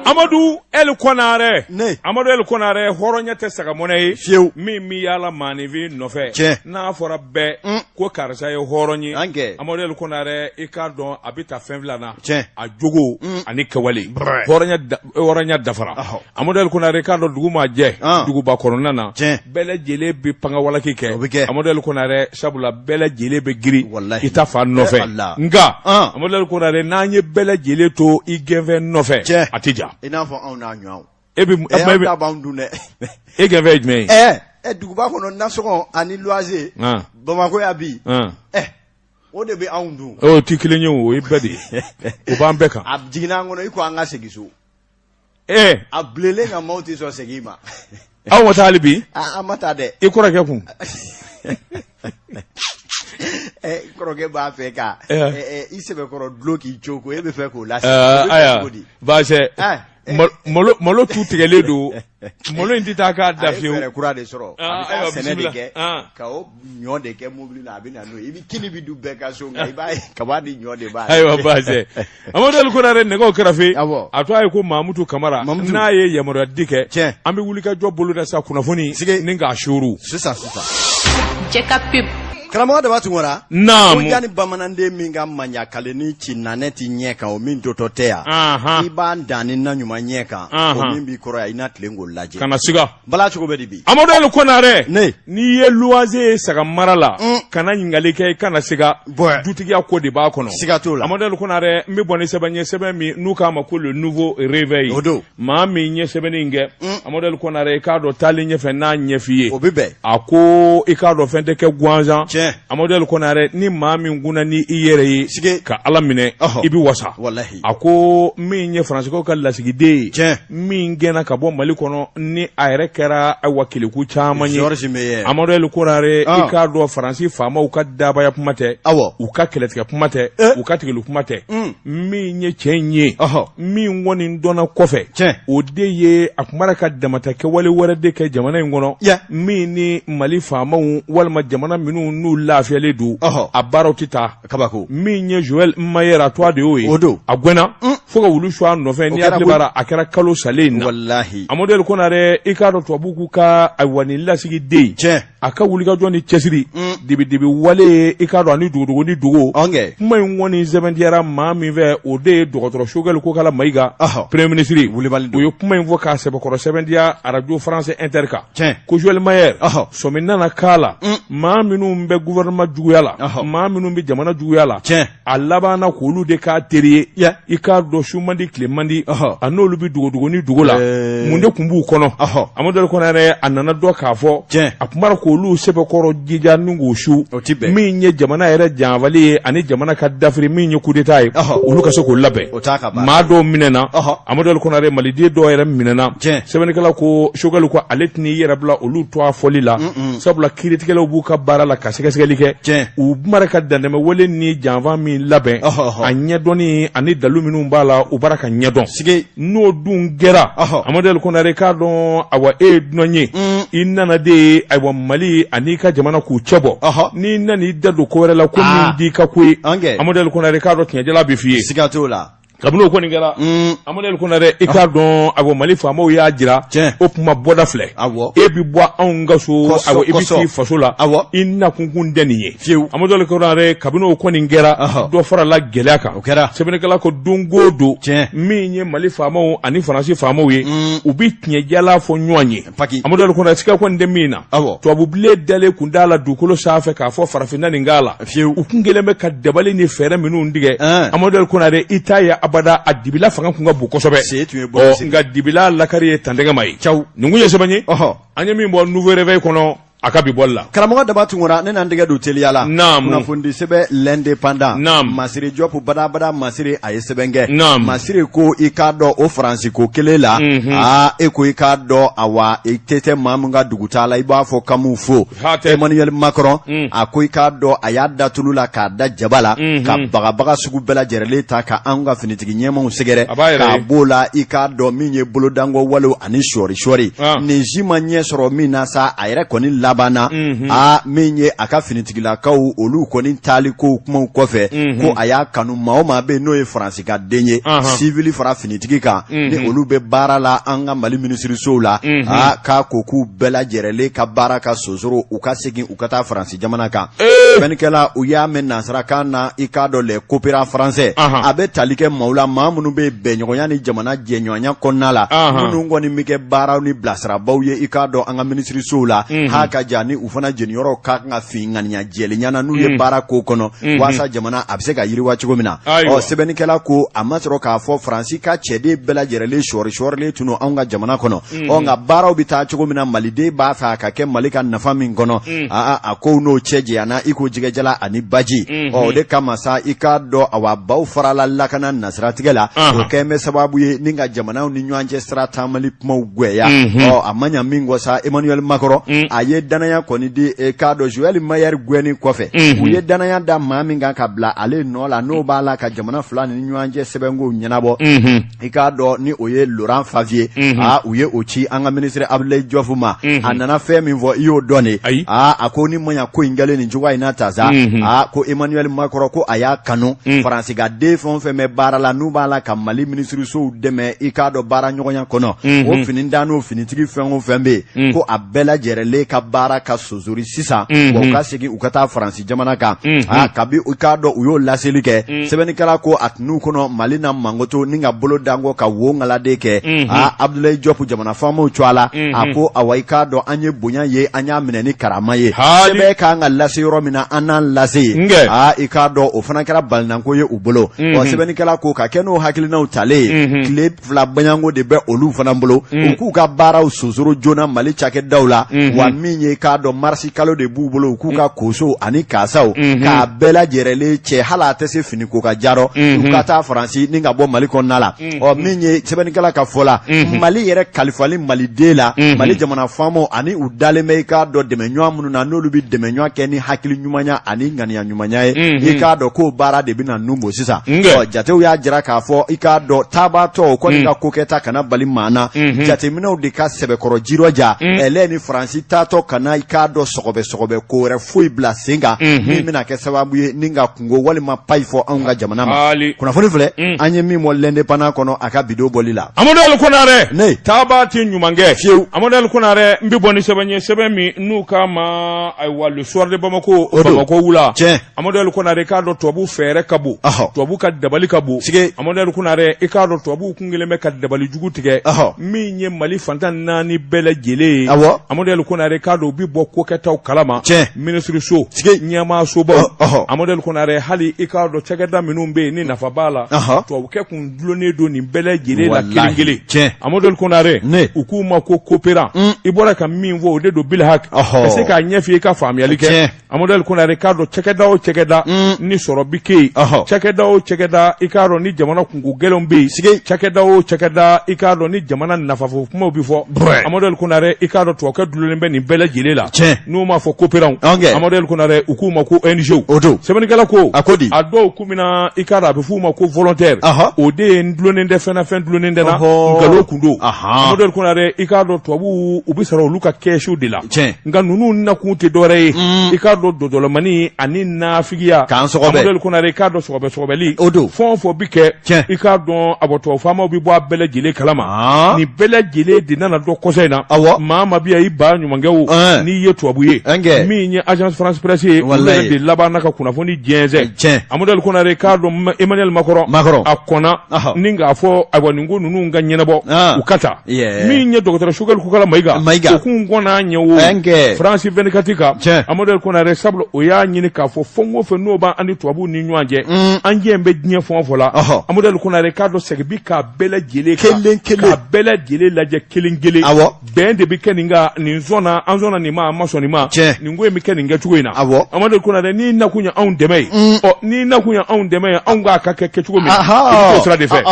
Amadu eli kɔnare ne amadu eli kɔnare hɔrɔnya tɛ saga mɔnɛ ye fiyewu min bɛ yaala maaninfin nɔfɛ Tiɲɛ. n'a fɔra bɛɛ Un. ko karisa ye hɔrɔn ye An kɛ. amadu eli kɔnare i k'a dɔn a bɛ taa fɛn fila na Tiɲɛ. a jogo ani kɛwale Brrr. hɔrɔnya da hɔrɔnya dafara amadu eli kɔnare i k'a dɔn dugu ma jɛ duguba kɔnɔna na bɛɛ lajɛlen bɛ pangawaleki kɛ amadu eli kɔnare sabula bɛɛ lajɛlen bɛ girin i ta fan nɔfɛ nka amadu eli kɔnare n'an ye bɛɛ lajɛlen to i gɛnfɛn nɔfɛ a tɛ ja e bɛ dun dɛ e gɛnfɛn ye jumɛn ye duguba kɔnɔ nasɔngɔ ani luwanse bamakɔ yan bi o de bɛ anw dun o tɛ kelen ye o ye bɛɛ de ye o b'an bɛɛ kan a jiginna an kɔnɔ i ko an ka segin so ee a bilenlen nka maaw tɛ sɔn segin ma aw ma taa hali bi an ma taa dɛ i kɔrɔkɛ ko n kɔrɔkɛ b'a fɛ ka i sɛbɛkɔrɔ dulon k'i cogo e b'a fɛ k'o lase ayiwa baasi malo tu tigɛlen don malo in tɛ taa k'a da fiyewu kura de sɔrɔ a sɛnɛ de kɛ ka ɲɔ de kɛ mobili la a bɛ na n'o ye i bɛ kini bɛ dun bɛɛ ka so nka i b'a ye kaba ni ɲɔ de b'a ayiwa baasi amadu eli kɔnare ne ko kɛrɛfɛ a to a ye ko mamutu kamara n'a ye yamaruya di kɛ tiɲɛ an bɛ wuli ka jɔ bolo da sa kunnafoni sigi ni k'a suuru sisan sisan jɛ ka pewu Karamɔgɔ daba tunkara naamuya ni bamananden min ka manɲakale ni ci na ne tɛ ɲɛ kan o min jɔtɔ tɛ yan i b'an dan ni na ɲuman ɲɛ kan min b'i kɔrɔ yan i na tilen ko lajɛ kana siga bala cogo bɛɛ de bi amadu eli kɔnare ne n'i ye luwanse ye saga mara la kana ɲininkali kɛ i kana siga dutigiya ko de b'a kɔnɔ siga t'o la amadu eli kɔnare n bɛ bɔ ni sɛbɛn ye sɛbɛn min n'u k'a ma ko le nouveau réveil o don maa min ye sɛbɛnni in kɛ mm. amadu eli kɔnare i k'a dɔn taalen ɲɛfɛ n'a ɲɛf'i ye o bɛ bɛn a ko i k'a dɔn fɛn tɛ kɛ gansan tiɲɛ amadu eli kɔnare ni maa min kunna ni i yɛrɛ ye sigi ka ala minɛ i bɛ wasa walahi a ko min ye faransikaw ka lasigiden ye tiɲɛ min gɛnna ka bɔ mali kɔnɔ ni a yɛrɛ kɛra wa kɛlɛku caman ye amadu eli kɔnare ah. i k'a dɔn faransi faamaw ka dabaya kuma tɛ awɔ u ka kɛlɛtigɛ kuma tɛ eh. u ka tigɛli kuma tɛ mm. min ye tiɲɛ ye min kɔni dɔnna kɔfɛ cɛ o de ye a kumara ka damata kɛwale wɛrɛ de kɛ jamana in kɔnɔ min ni mali faamaw walima jamana minnu n'u lafiyalen don a baaraw tɛ taa kabako min ye joël meyer a tɔgɔ de y'o ye o don a gɛnna mm. fo ka wulu su a nɔfɛ ni bara a kɛra kalo salen na walahi amadu eli kɔnare i k'a dɔn tubabuw k'u ka ayiwa nin lasigiden cɛ a ka wulikajɔ ni cɛsiri mm. dibidibi wale ye i k'a dɔn ani dogodogo ni dogo kuma in kɔni sɛbɛntiyara maa min fɛ o de ye dɔgɔtɔrɔ shogɛli kokala mayiga premier ministre o ye kuma in fɔ k'a sɛbɛkɔrɔ sɛbɛntiya arajo france inter kan ko joël meyer sɔmi nana k'a la mm. maa minnu bɛ gouvernement juguya la maa minnu bɛ jamana juguya la a labanna k'olu de k'a teri ye i k'a dɔn su man di tile man di a n'olu bɛ dogodogo ni dogo la mun de tun b'u kɔnɔ amadu ali konare a nana dɔn k'a fɔ a tun b'a la k' olu sɛbɛkɔrɔ jija n k'u su min ye jamana yɛrɛ janfali ye ani jamana ka dafiri min ye coup d'état ye olu ka se k'o labɛn O t'a ka baara ye. maa dɔw minɛna Ɔhɔ. amadu ali konare maliden dɔw yɛrɛ minɛna Tiɲɛ. sɛbɛnnikɛlaw ko sogɛli ko ale tɛna i yɛrɛ bila olu tɔgɔ fɔli la sabula kiiritigɛlaw b'u ka baara la ka sɛgɛsɛgɛli kɛ Tiɲɛ. u b'a la ka dantɛmɛwale ni janfa min labɛn Ɔhɔ, ɔhɔ. a ɲɛdɔnni ani dalu minnu b'a la u b'a la k'a ɲɛdɔn Sigi. n'o dun kɛra Ɔhɔ. amadu ali konare k'a dɔn awa e ye dunan ye i nana de ye ayiwa mali an'i ka jamana k'u cɛ bɔ Ɔhɔ. n'i nana i da don ko wɛrɛ la ko Ah. min t'i ka ko ye An kɛ. amadu ali konare k'a dɔn tiɲɛ Jala bɛ f'i ye siga t'o la kabini o kɔni kɛra Amadu Ali Konare i k'a dɔn awa Mali faamaw y'a jira o tuma bɔda filɛ e bɛ bɔ anw ka so awa i bɛ t'i faso la i nakun tun tɛ nin ye fiyewu Amadu Ali Konare kabini o kɔni kɛra dɔ fara la gɛlɛya kan o kɛra sɛbɛnnikɛla ko don o don min ye Mali faamaw ani Faransi faamaw ye u bɛ tiɲɛjala fɔ ɲɔgɔn ye paki amadu ali konare siga kɔni tɛ min na awɔ tubabu bilen dalen tun t'a la dugukolo sanfɛ k'a fɔ farafin na nin k'a la fiyewu u tun kɛlen bɛ ka dabali ni fɛɛrɛ minnu tigɛ Ɛn. amadu ali konare i t'a ye abada a dibila fanga tun ka bon kosɛbɛ Se tun ye bɔ ɔ sen. nka dibila lakari ye tantɛgɛ ma ye Caw. nin tun ye sɛbɛn ye ɔhɔ an ye min bɔ nouveau réveil kɔnɔ A ka bi bɔli la karamɔgɔ daba tunkara ne na n tɛgɛ don teliya la kunnafonidi sɛbɛn l'indépendant masiri jɔpu badabada masiri a ye sɛbɛn kɛ masiri ko i k'a dɔn o faransi ko kelen la aa e ko i k'a dɔn awa e te tɛ maa min ka dugutaa la i b'a fɔ k'an b'u fo emmanuel macron a ko i k'a dɔn a y'a da tulu la k'a da jaba la ka bagabaga sugu bɛɛ lajɛrɛlen ta ka an ka finitigi ɲɛmaaw sɛgɛrɛ k'a b'o la i k'a dɔn min ye bolodankɔ walew ani sɔɔri sɔɔri ah. nin si ma ɲɛ sɔrɔ min na sa a yɛrɛ kɔni labanna mhm. a min ye a ka finitigilakaw olu kɔni taali ko kumaw kɔfɛ mhm. ko a y'a kanu maa o maa bɛ n'o ye faransi ka den ye sivili fara finitigi kan mhm. ni olu bɛ baara la an ka mali minisirisow la a k'a ko k'u bɛɛ lajɛrɛlen ka baara ka sonsoro u ka segin u ka taa faransi jamana kan sɛbɛnnikɛla u y'a mɛn nansarakan na i k'a dɔn les coopérants français a bɛ tali kɛ maaw la maa minnu bɛ bɛnɲɔgɔnya ni jamana jɛɲɔgɔnya kɔnɔna la minnu kɔni bɛ kɛ baaraw ni bilasirabaaw ye i k'a dɔn an ka minisirisow la ha ka jan ni u fana jeniyɔrɔ ka kan ka fin ŋaniya jɛlenya na n'u ye baara ko kɔnɔ walasa jamana a bɛ se ka yiriwa cogo min na ɔ sɛbɛnnikɛla ko a ma sɔrɔ k'a fɔ faransi ka cɛden bɛɛ lajɛrɛlen sɔɔrisɔɔrilen tun anw ka jamana kɔnɔ ɔ nka baaraw bɛ taa cogo min na maliden b'a fɛ a ka kɛ mali ka nafa min kɔnɔ aa a k'u n'o cɛ janyana i ko jɛgɛ jalan ani baji ɔ o de kama sa i k'a dɔn awa baw farala lakana nasira tigɛ la o kɛlen bɛ sababu ye ni ka jamanaw ni ɲɔgɔn cɛ sira taamali kumaw gwɛya ɔ a ma ɲa min kɔ sa emmanuel macron a ye danaya kɔni di eh, k'a dɔn joël meyer gwɛni kɔfɛ u ye danaya da maa min kan ka bila ale nɔ la n'o b'a la ka jamana fila ni ɲɔgɔn cɛ sɛbɛnkow ɲɛnabɔ i k'a dɔn ni o ye Laurent Favier unhun aa u ye o ci an ka ministre Abdoulaye Diop ma unhun a nana fɛn min fɔ i y'o dɔn de ayi aa a ko ni ma ɲa ko in kɛlen nin cogoya in na tan sa unhun aa ko Emmanuel Macron ko a y'a kanu un Faransi ka den fɛn o fɛn bɛ baara la n'u b'a la ka Mali minisirisow dɛmɛ i k'a dɔn baara ɲɔgɔnya kɔnɔ unhun o finitan n'o finitigi fɛn o fɛn bɛ yen un ko a bɛɛ lajɛrɛlen ka baara ka sonsori sisan wa u unhun ka segin u ka taa Faransi jamana kan kabi i k'a dɔn u y'o laseli kɛ sɛbɛnnikɛla ko a tun n'u kɔnɔ mali na makoto ni k'a bolo d'a kɔ ka wokaladen kɛ aa abudulayi jɔpu jamana faamaw tɔgɔ la a ko awa i k'a dɔn an ye bonya ye an y'a minɛ ni karama ye sɛbɛn k'an k'a lase yɔrɔ min na an n'a lase yen aa i k'a dɔn o fana kɛra balinanko ye u bolo sɛbɛnnikɛla ko ka kɛ n'o hakilinaw talen ye tile fila bayanko de bɛ olu fana bolo mm. u k'u ka baaraw sonsoro joona mali cakɛdaw la mm-hmm. wa min ye k'a dɔn marisi kalo de b'u bolo u k'u ka mm. kosow ani kasaw mm-hmm. k'a bɛɛ lajɛrɛlen cɛ hali a tɛ se fini ko k'a ja rɔ u mm-hmm. ka taa faransi ni ka bɔ mali kɔnɔna la ɔ min ye sɛbɛnnikɛla ka fɔ la mali yɛrɛ kalifali maliden la mali jamana faamaw ani u dalen bɛ i k'a dɔn dɛmɛɲɔgɔn minnu na n'olu bɛ dɛmɛɲɔgɔn kɛ ni hakili ɲumanya ani ŋaniya ɲuman ye mhm. i k'a dɔn k'o baara de bɛna nun bɔ sisan jatew y'a jira k'a fɔ i k'a dɔn taabaatɔw kɔni mhm. ka ko kɛta kana bali maa na mhm. jateminɛw de ka sɛbɛkɔrɔ jirɔja ɛlɛ ni faransi taatɔ kana i k'a dɔn sɔgɔbɛ sɔgɔbɛ ko wɛrɛ foyi bila sen kan min bɛna kɛ sababu ye ni ka kungo walima payi fɔ anw ka jamana ma kunnafoni filɛ an ye min mɔ l'indépendant kɔnɔ a ka bi don bɔli la amadu ali konare ne taabaa tɛ ɲuman kɛ fiyewu amadu ali konare n bɛ bɔ ni sɛbɛn ye sɛbɛn min n'u k'a ma ayiwa soir de bamako bamako wula amadu konare k'a dɔn tubabu fɛɛrɛ ka bon tubabu ka dabali ka bon amadu konare i k'a dɔn tubabu kun kelen bɛ ka dabali jugu tigɛ min ye mali fan tan ni naani bɛɛ lajɛlen ye amadu konare k'a dɔn u bɛ bɔ ko kɛtaw kalama minisiriso ɲɛmaasobaw amadu konare hali i k'a dɔn cakɛda minnu bɛ yen ni nafa b'a la tubabu kun dulonnen don nin bɛɛ lajɛlen la kelen kelen tiɲɛ Amadou Ali Konare ne u k'u ma ko coopérant i bɔra ka min fɔ o de don bilahaki ka se k'a ɲɛf'i ye i ka faamuyali kɛ tiɲɛ Amadou Ali Konare k'a dɔn cakɛda o cakɛda ni sɔrɔ bi kɛ yen cakɛda o cakɛda i k'a dɔn ni jamana kunko gɛlɛnw bɛ yen sike cakɛda o cakɛda i k'a dɔn ni jamana nafafo kumaw bɛ fɔ Amadou Ali Konare i k'a dɔn tubabukɛ dulonnen bɛ nin bɛɛ lajɛlen la tiɲɛ n'u m'a fɔ coopérant Amadou Ali Konare u k'u ma ko ONG o don sɛbɛnnikɛla ko a ko di a dɔw ko min na i k'a dɔn a bɛ f'u ma ko volontaire o de ye n dulonnen tɛ fɛn na fɛn dulonnen tɛ n na nkalon kun don Amadu Konare i k'a dɔn tubabuw u bɛ sɔrɔ olu ka kɛsu de la nka ninnu nakun tɛ dɔwɛrɛ ye mm. i k'a dɔn dɔdɔlɔmani ani nafigiya k'an sɔgɔbɛ Amadu Konare i k'a dɔn sɔgɔbɛ sɔgɔbɛli o don fɛn o fɛn bɛ kɛ i k'a dɔn a bɔ tubabu faamaw bɛ bɔ a bɛɛ lajɛlen kalama nin bɛɛ lajɛlen de nana dɔn kɔsa in na awɔ maa ma bi i ba ɲumankɛ o n'i ye tubabu ye min ye agence France presse ye olu de labanna ka kunnafoni diɲɛɛnɛn amaduri kore k'a don e mali makɔrɔ makɔrɔ a kɔnɔ ni k'a fɔ a ko ninnu ka ɲɛnabɔ u ka taa min ye dɔgɔtɔrɔ sukalikura ma ma kun kɔnɔ'a ɲɛ fransi bɛkati kan amaduri kore sabu o y'a ɲini k'a fɔ fo ko fɛ n'o b'a ni tubabubu ni ɲɔgɔn cɛ an diɲɛ bɛ diɲɛ fɔ fɔ la amaduri kɔnɔre k'a dɔn segin k'a bɛɛ lajɛlen kelen kelen bɛɛ lajɛlen lajɛ kelen kelen bɛn de bɛ kɛ nin kan nin sɔnna an sɔnna nin ma an ma sɔn nin ma nin ko in bɛ kɛ nin kɛcogo in na awɔ Amadu Konare n'i nakun ye anw dɛmɛ ye mm. ɔ n'i nakun ye anw dɛmɛ ye anw k'a ka kɛ kɛcogo min i bɛ t'o sira de fɛ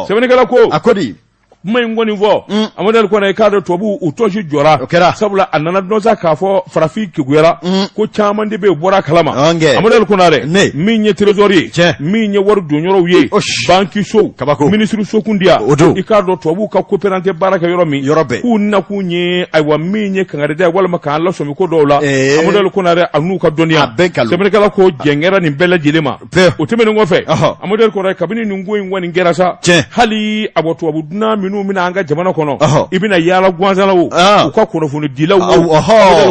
sɛbɛnnikɛla ko a ko di kuma in kɔni fɔ mm. Amadu Konare i k'a dɔn tubabu u tɔnsi jɔra o kɛra sabula a nana dɔn sa k'a fɔ farafin kekuyara mm. ko caman de bɛ yen bɔra kalama Amadu Konare min ye trésor ye min ye wari donyɔrɔw ye bankisow minisiriso kundiya o don i k'a dɔn tubabuw ka koperante baara kɛ yɔrɔ min k'u nakun ye ayiwa min ye kangarida ye walima k'an lasɔmi ko dɔw la Amadu Konare a n'u ka dɔnniya sɛbɛnnikɛla ko jɛngɛra nin bɛɛ lajɛlen ma o tɛmɛnen kɔfɛ Amadu Konare kabini nin ko in kɔni kɛra sa hali a bɔ tubabu dunan minnu bɛ na an ka jamana kɔnɔ i bɛna yaala gansan na o u ka kunnafonidilaw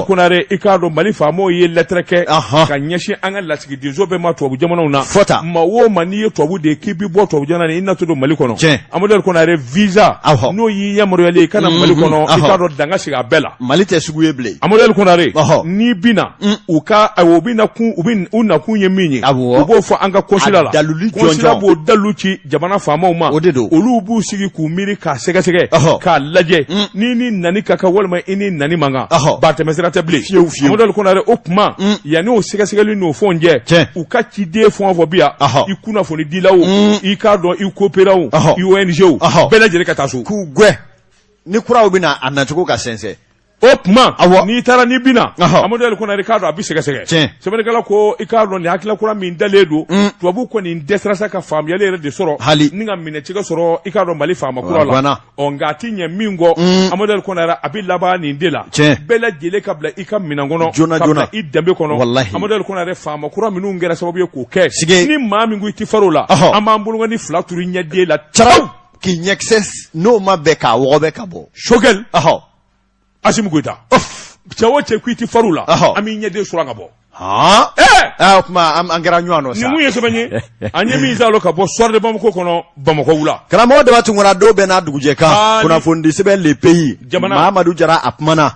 ko i k'a dɔn mali faamaw ye lɛtɛrɛ kɛ ka ɲɛsin an ka lasigi denso bɛɛ ma tubabu jamanaw na maa o maa n'i ye tubabu de ye k'i bɛ bɔ tubabu jamana na i natɔ don mali kɔnɔ tiɲɛ Amadu Konare visa n'o y'i yamaruyalen i ka na mali kɔnɔ i k'a dɔn dan ka sigi a bɛɛ la mali tɛ sugu ye bilen Amadu Konare n'i bɛ na u ka u bɛ na kun u bɛ u nakun ye min ye u b'o fɔ an ka konsila la dalilu jɔnjɔn konsila b'o dalilu ci jamana faamaw ma o de don olu b'u sigi k'u miiri k'a sɛgɛsɛgɛ k'a lajɛ mm. n'i ni nani ka kan walima i ni nani man kan ba tɛmɛsira tɛ bilen fiyewu fiyewu Amadu Konare o tuma mm. yanni o sɛgɛsɛgɛli n'o fɛnw cɛ u ka ciden fɛn o fɛn bi yan i kunnafonidilaw mm. i k'a dɔn i koperanw i ONG bɛɛ lajɛlen ka taa so k'u gɛn ni kuraw bɛ na a nacogo ka sɛnsɛn o tuma n'i taara n'i bɛ na Amadu Konare i k'a dɔn a bɛ sɛgɛsɛgɛ sɛbɛnnikɛla ko i k'a dɔn nin hakilila kura min dalen don mm. tubabu kɔni dɛsɛra sa ka faamuyali yɛrɛ de sɔrɔ hali ni k'a minɛcogo sɔrɔ i k'a dɔn mali faama kura la ɔ nka a ti ɲɛ min kɔ mm. Amadu Konare a bɛ laban nin de la bɛɛ lajɛlen ka bila i ka minɛn kɔnɔ joona joona i danbe kɔnɔ Amadu Konare faama kura minnu kɛra sababu ye k'o kɛ ni maa min ko i ti far'o la an b'an bolokɔni fila turu i ɲɛden la caraw k'i ɲɛkisɛ n'o ma bɛn k'a wɔgɔbɛ ka bɔ sogɛli Asimi Goyita o cɛ ko i tɛ farir la an b'i ɲɛden su ka bɔ o tuma an kɛra ɲɔgɔn nɔ ye sɛbɛn ye an ye min sɔrɔ ka bɔ soir bamakɔ kɔnɔ bamakɔ wula karamɔgɔ deba tun kɔnɔ dɔw bɛ n'a dugujɛ kan kunnafonidi sɛbɛn le pays jamana mamadu jara a kumana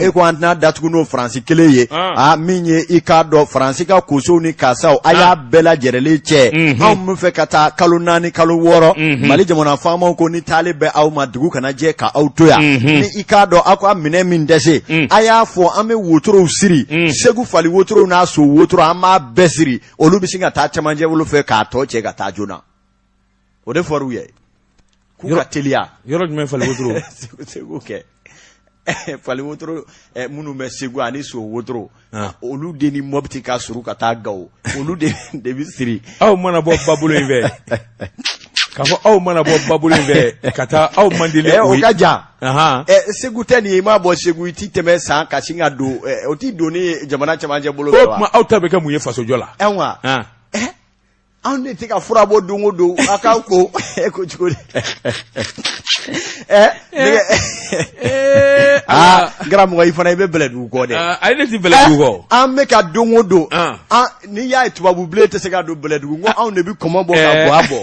e ko an tɛna dat n'o faransi kelen ye a min ye i k'a dɔn faransi ka kosow ni karisa a y'a bɛɛ lajɛrɛlen cɛ anw bɛ fɛ ka taa kalo naani kalo wɔɔrɔ mali jamana faama ko ni taali bɛ aw ma dugu kana jɛ ka aw to yan mhm. ni i k'a dɔn aw ka minɛn min dɛsɛ mm. a y'a fɔ an bɛ wotorow siri mm. segu fali wotorow n'a so wotoro an b'a bɛɛ siri olu bɛ sin ka taa cɛmancɛ bolo fɛ k'a tɔ cɛ ka taa joona o de fɔr'u ye k'u ka teliya yɔrɔ jumɛn fali wotoro segu kɛ fali wotoro eh, minnu bɛ segu ani so wotoro Ah. olu de ni mɔbiti ka surun ka taa gawo olu de de bɛ siri aw mana bɔ babolo in fɛ k'a fɔ aw mana bɔ babolo in fɛ ka taa aw man deli eh, o ka jan Ahan. ɛ segu tɛ nin ye i maa bɔ segu i ti tɛmɛ san ka sin ka don ɛ, o ti don ni jamana cɛmancɛ bolo o fɛ wa tuma aw ta bɛ kɛ mun ye fasojɔ la ɛn wa Ah. anw de tɛ ka fura bɔ don o don a k'aw ko e ko cogo di ɛ nɛgɛ Eh, aa karamɔgɔ i fana i bɛ bɛlɛdugu kɔ dɛ ah, ayi ne ti bɛlɛdugu kɔ. an bɛ ka don o don Ah. an- n'i y'a ye tubabu bilen tɛ se ka don bɛlɛdugu n ko anw de bɛ kɔmɔ bɔ ka Eh. bɔ a bɔ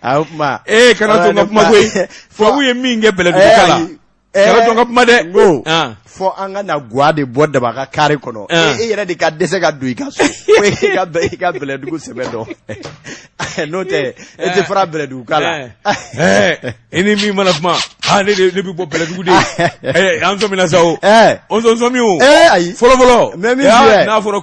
a o tuma Ee, kana to n ka kuma koyi. Tubabu ye min kɛ bɛlɛdugukaw la. ka kuma dɛ ko fɔ an ka na ga de bɔ daba ka kari kɔnɔ e yɛrɛ de ka dɛsɛ ka don i ka so i ka bɛlɛdugu ko sɛbɛ dɔn n'o tɛ e tɛ fara bɛlɛdugukaw la i ni min mana kuma ne bɛ bɔ bɛlɛdugu de an sɔmina sa o an sɔmi o ayi fɔlɔfɔlɔ mɛ min n'a fɔra